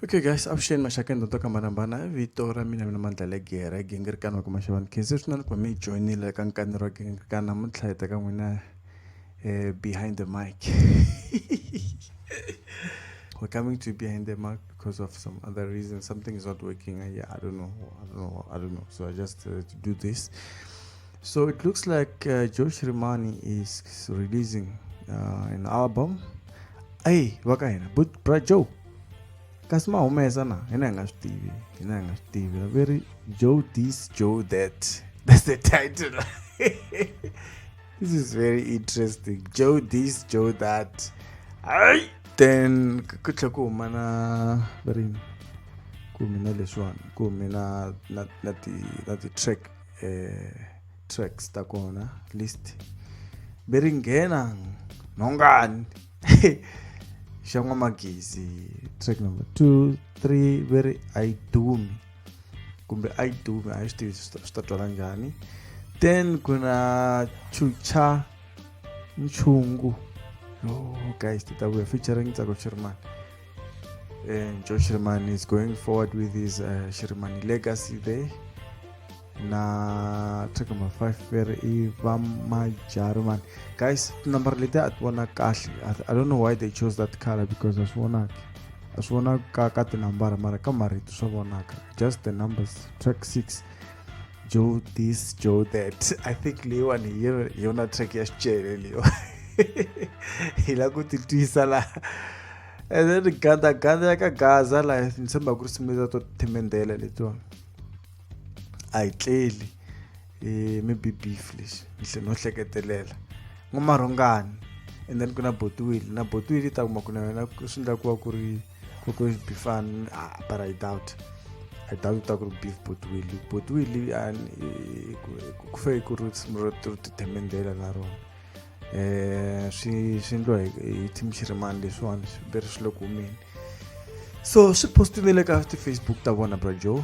Okay guys, avuxeni maxaka ndzi to kambanambana vito ra mina mina mandlale gere gingirikana wa kuma xivani khensi swi na ni kuma mi joinile ka nkani ra gingirikana namuntlha hi teka n'wina um behind the mic we're coming to behind the mic because of some other reason something is not working I, yeah, I don't know I don't know I don't know so I just uh, do this So it looks like uh, Joe Shrimani is releasing uh, an album. Hey, wakaina, but bra Joe. kasi mahumesa na hina hi nga swi tivi hina hi nga swi tivi va ri joe this joe that that's the title this is very interesting joe this joe that ai then ku tlhe ku huma na va ri ku mina leswiwani ku mina na na ti na ti-track eh, tracks ta kona list ve ri nghena nhongani xa n'wamagezi track number two three ve ri a yi dumi kumbe a yi dumi a yi swi tivi swi ta twala njhani then ku na chucha nchungu oh guys ti ta vuya featuring tsako chirimani And Joe Sherman is going forward with his uh, Sherman legacy there. na track number 5 where i vamajarman guys number leti a ti vona kahle i don't know why they chose that color because a swi vonaki a swi vonaka ka tinambara mara ka marito swa vonaka just the numbers track 6 joe this joe that i think leyiwani hi yona- hi yona track ya xicele leyiwa hi la ku titwisa laha and then gandaganda ya ka gaza laha ni tshemba ku ri simeza to thimendela letiwani a yi tleli um maybe beef lexi ni tlhe no hleketelela n'wamarhongani and then ku na botiwile na botiwile yi ta kuma ku na yona swi endla ku va ku ri Could always be fun, ah, but I doubt. I doubt it could be Potwili. Potwili and Kufe Kurutz Mrotur to Temendela Naron. Eh, she she like Tim Shirman this one, very slow coming. So she posted the like after Facebook that one about Joe.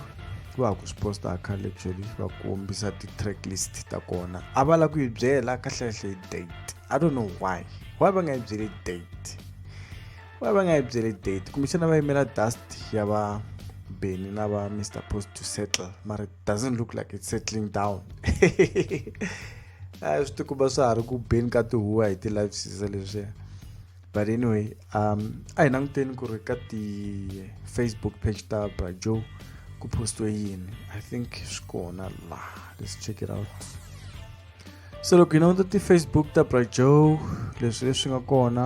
va ku swi posta khale actually va kombisa ti-track list ta kona a va lava ku yi byela kahlekahle date i don't know why why va nga yi byeli date va va nga yi byeli date kumbexana va yimela dust ya va beni na va mr post to settle mara it doesn't look like it's settling down a swi tikuba swa ha ri ku beni ka tihuwa hi ti-live sisa leswiya but anyway um a hi languteni ku ri ka ti-facebook page ta brajo ku postiwe yini i think swi kona la let's check it out so loko hi languta ti-facebook ta brajo leswi leswi nga kona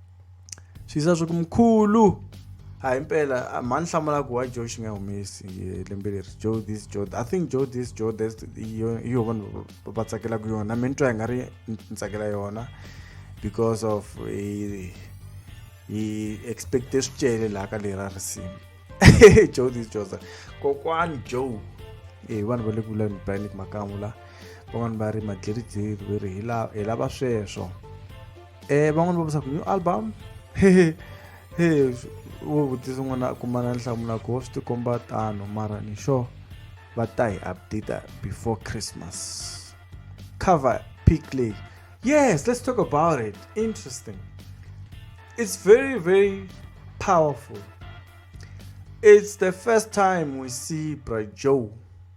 xiyisa swa ku mkhulu hayi impela mhani hlamula ku wa joe xi nga humesi lembe leri joe this joe i think joe this joe this yo vanhu va tsakelaka yona mi ni twa hi nga ri ni tsakela yona because of hi expecte swi cele laha ka lera risimu joe this joe kokwani joe e vanhu va le ku vulani banic makamu la van'wani va ri madliridliri ve ri hi lava sweswo Eh, van'wana va vusaku new album hehe he wo vutisa n'wana a kuma na nhlamula ku swi tikomba tano mara ni sure va ta hi updata before christmas cover pick leyi yes let's talk about it interesting it's very very powerful it's the first time we see bra joe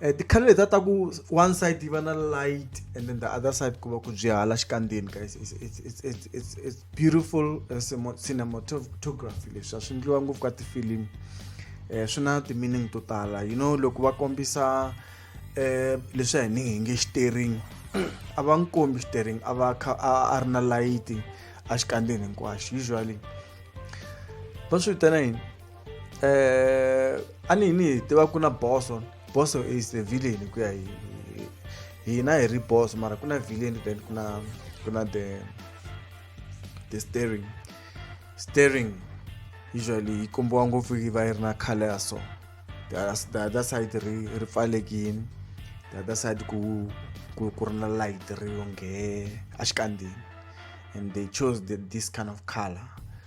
eh, ti-color leta ta ku one side yi va na light and then the other side ku va ku byi hala xikandzeni guys it's, it's, it's, it's, it's, it's beautiful uh, cinematography leswi a swi endliwa ngopfu ka tifilimu um eh, swi na ti-meaning to tala you know loko va kombisa um leswi a hi ni hi nge xitering a va n'wi kombi xitering a va kha a ri na layiti a xikandzeni hinkwaxo usually va swi vitana yini eh a ni ni hi tiva ku na boso boso is a villain ku ya hi hina hi ri boso mara ku na villain then ku na ku na the the staring staring usually yi kombiwa ngopfu yi va yi ri na color ya so the other side ri ri pfalekini the other side ku ku ku ri na light ri yonge a xikandzeni and they chose the, this kind of color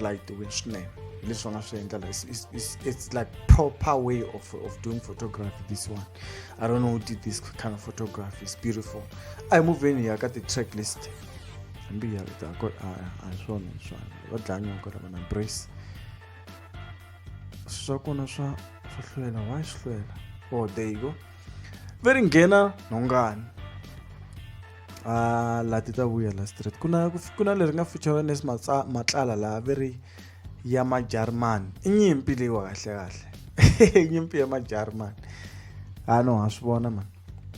like the witch name leswi va nga swi endla it's like proper way of, of doing photography this one i don't know who did this kind of photography it's beautiful a hi muvheni ya ka ti-track list hambi hi yaleta a hi swona hi swona va dlanya ku lava na brace swa kona swa swa hlwela wa swi hlwela oh there you go ve ri nghena nhongani a la ti ta vuya la straight ku na ku na leri nga feature nes matlala laha ve ri ya majarimani i nyimpi leyiwa kahle kahle nyimpi ya majarimani ha no ha swi vona mani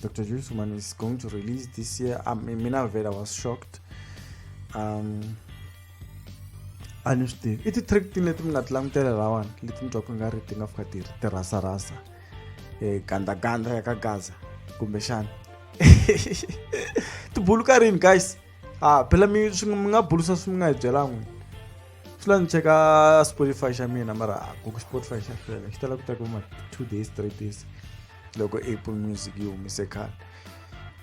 dr jules man is going to release this year um, mina vela was shocked um a ni swi tivi i ti-trick ti leti mi nga ti langutela lawana leti ni twaku nga ri ti nga fika ti ri tirhasarhasa e, gandaganda ya ka gaza kumbexana tibulu ka rini guys a phela mi mi nga bulusa swi mi nga hi byelan'wini swi la ni cheka spotify xa mina mara ku spotify xa fela xi tala ku ta kuma two days three days loko apple music yi humise khale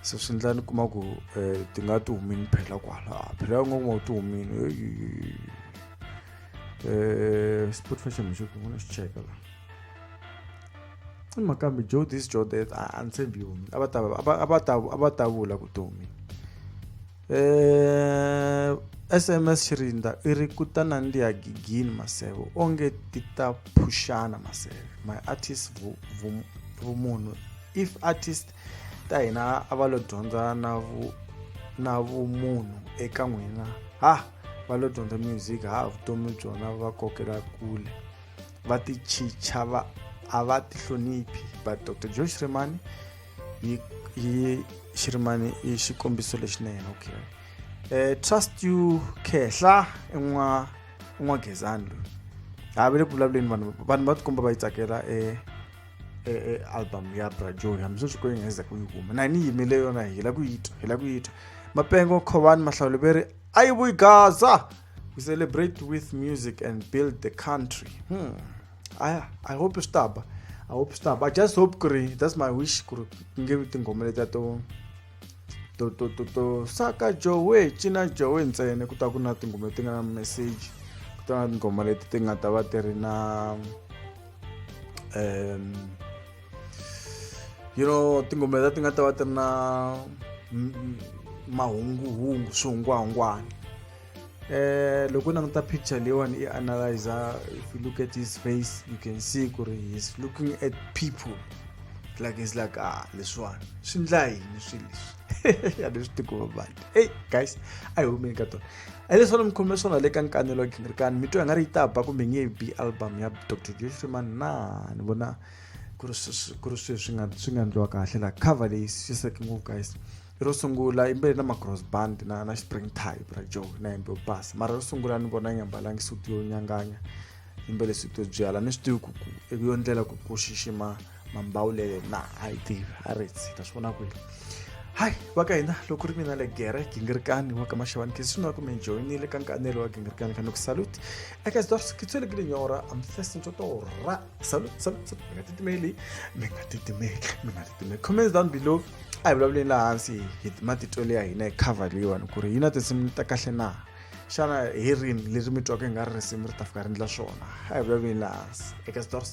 so swi ndla ni kuma ku um ti nga ti humini phela kwala phela ya nga kuma ku ti humini um spotify xa mi xi kuma xi cheka la i mhaka kambe joe this joe that a ni tshembi yona a va ta a va ta a va ta vula vutomi eh sms xirinda i ri ku ta nandziha gigini maseve onge ti ta phuxana maseve my artist vumunhu if artist ta hina a va lo dyondza na vu na vumunhu eka n'wina ha va lo dyondza music ha vutomi byona va kokela kule va tichicha va a va ti hloniphi but dr joe shirimani yi yi shirimani i xikombiso lexinene okay eh trust you khehla en'wa en'wa gezani loyi ha ve le ku vulavuleni vanhu vanhu va tikomba va yi tsakela e e e album ya bra joe hambi sweswi ko yi nga za ku yi huma na ni yimele yona hi la ku yi twa hi la ku yi twa mapengo khovani mahlawuleveri a yi vuyi gaza we celebrate with music and build the country hmm. I, i hope swi taba i hope swi taba i just hope ku ri that's my wish ku ri ku nge vi tinghoma letiya to to to to to saka jowe cina jowe ntsena ku ta ku na tinghoma leti nga na message ku ta na tinghoma leti ti nga ta va ti ri na um you know tingombe ta ti nga ta va ti ri na mahunguhungu swihungwahungwana eh loko na ta picture leyiwani i analyzer if you look at his face you can see ku ri he's looking at people like he's like ah leswiwani swi ndla yini swi leswi ya leswi tikuma vanhu hey guys a hi humeni ka tona a leswi ni mi khome swona le ka nkanelo wa gingirikani mi twa hi nga ri yi ta ba kumbe nge bi album ya dr joshman na ni vona ku ri ku ri swilo swi nga swi nga ndliwa kahle la cover leyi swi saseke ngopfu guys ro sungula yimbele na macross band na na spring type ra joe na yimbe yo basa mara ro sungula ni vona yi nga mbalangi suti yo nyanganya yimbele suti yo byala ni swi tivi ku ku eku yo ndlela ku ku xixima mambawulele na a yi tivi a ri tsi ta swi vona kwini hayi va ka hina loko ri mina le gere gingirikani wa ka maxavani khe swinuna kumbe joyinile ka nkanelo wa gingirikani ka ni ku salute eka zidorskitswelekile nyora amfesintotoro ra Salut, salut, salut, mi-a dat email mi nga ti email mi nga ti email comments down below a hi vulavuleni laha hansi hi matitwelo ya hina hi cover leyiwani ku ri yi na tinsimu ta kahle na xana hi rini leri mi twaka hi nga ri risimu ri ta fika ri endla swona a hi vulavuleni laha hansi eka stores